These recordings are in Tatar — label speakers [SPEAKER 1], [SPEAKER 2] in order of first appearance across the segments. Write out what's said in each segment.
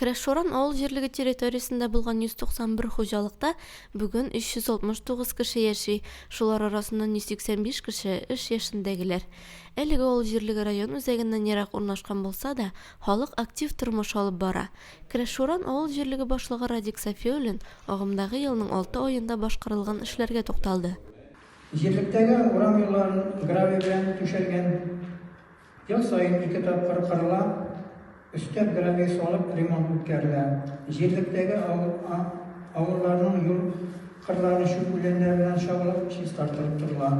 [SPEAKER 1] Крэшуран авыл җирлеге территориясендә булган 191 хуҗалыкта бүген 369 кеше яши, шулар арасыннан 185 кеше, эш яшендәгеләр. Әлеге авыл җирлеге район үзәгеннән ерак урнашкан булса да, халык актив тормыш алып бара. Крэшуран авыл җирлеге башлыгы Радик Сафиуллин агымдагы елның алты аенда башкарылган эшләргә тукталды. Җирлектәге
[SPEAKER 2] урам юлларын гравий белән түшәлгән Ел саен ике тапкыр кырыла, өстәп гравий салып ремонт үткәрелә. Җирлектәге авылларның юл кырлары чүп үләннәре белән чагылып, чистартылып торыла.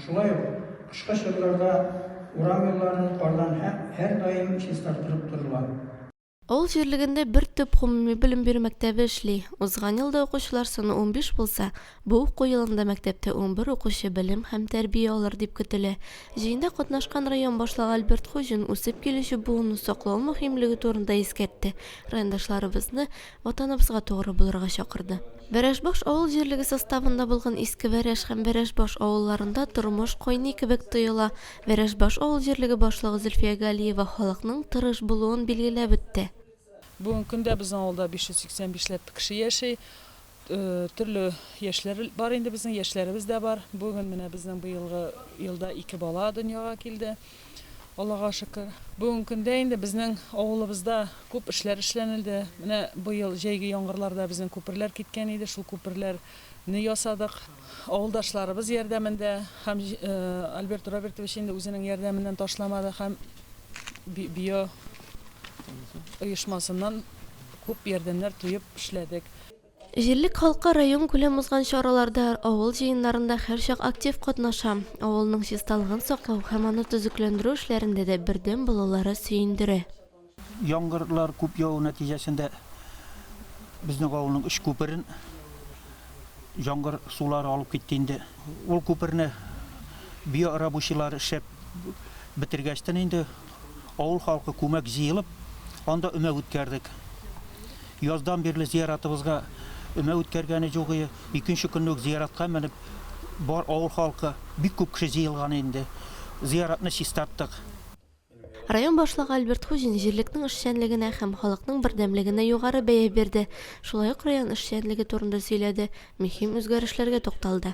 [SPEAKER 2] Шулай ук кышкы чорларда урам юлларын кардан һәрдаим чистартылып торыла. Авыл
[SPEAKER 1] җирлегендә бер төп гомуми белем бирү мәктәбе эшли. Узган елда укучылар саны унбиш булса, бу уку елында мәктәптә унбер укучы белем һәм тәрбия алыр дип көтелә. Җыенда катнашкан район башлыгы Альберт Хуҗин үсеп килүче буынны саклау мөһимлеге турында искәртте, райондашларыбызны Ватаныбызга тугры булырга чакырды. Бәрәшбаш авыл җирлеге составында булган Иске Бәрәш һәм Бәрәшбаш авылларында тормыш кайный кебек тоела, Вәрәшбаш авыл җирлеге башлыгы Зөлфия Галиева халыкның тырыш булуын билгеләп үтте. Бүгенге көндә
[SPEAKER 3] безнең авылда 585 ләп кеше яши. Төрле яшьләр бар инде безнең, яшьләребез дә бар. Бүген менә безнең быелгы елда ике бала дөньяга килде, Аллага шөкер. Бүгенге көндә инде безнең авылыбызда күп эшләр эшләнелде. Менә быел җәйге яңгырларда безнең күперләр киткән иде, шул күперләр не ясадык. Авылдашларыбыз ярдәмендә һәм Альберт Робертович инде үзенең ярдәменнән ташламады һәм био оешмасыннан күп ярдәмнәр тоеп эшләдек. Җирлек
[SPEAKER 1] халкы районкүләм узган чараларда, авыл җыеннарында һәрчак актив катнаша. Авылның чисталыгын саклау һәм аны төзекләндерү эшләрендә дә бердәм булулары сөендерә. Яңгырлар
[SPEAKER 4] күп яву нәтиҗәсендә безнең авылның өч күперен яңгыр сулары алып китте инде. Ул күперне биорабочийлар эшләп бетергәчтен инде, авыл халкы күмәк җыелып, анда өмә үткәрдек. Яздан бирле зыяратыбызга өмә үткәргәне җугые, икенче көнне үк зыяратка менеп, бар авыл халкы, бик күп кеше җыелган инде, зыяратны чистарттык.
[SPEAKER 1] Район башлыгы Альберт Хуҗин җирлекнең эшчәнлегенә һәм халыкның бердәмлегенә югары бәя бирде, шулай ук район эшчәнлеге турында сөйләде, мөһим үзгәрешләргә тукталды.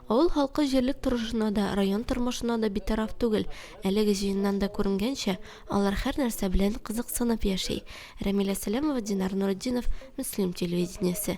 [SPEAKER 1] Авыл халкы җирлек торышына да, район тормышына да битараф түгел. Әлеге җыеннан да күренгәнчә, алар һәрнәрсә белән кызыксынып яши. Рәмилә Сәләмова, Динар Нуретдинов, Мөслим телевидениесе.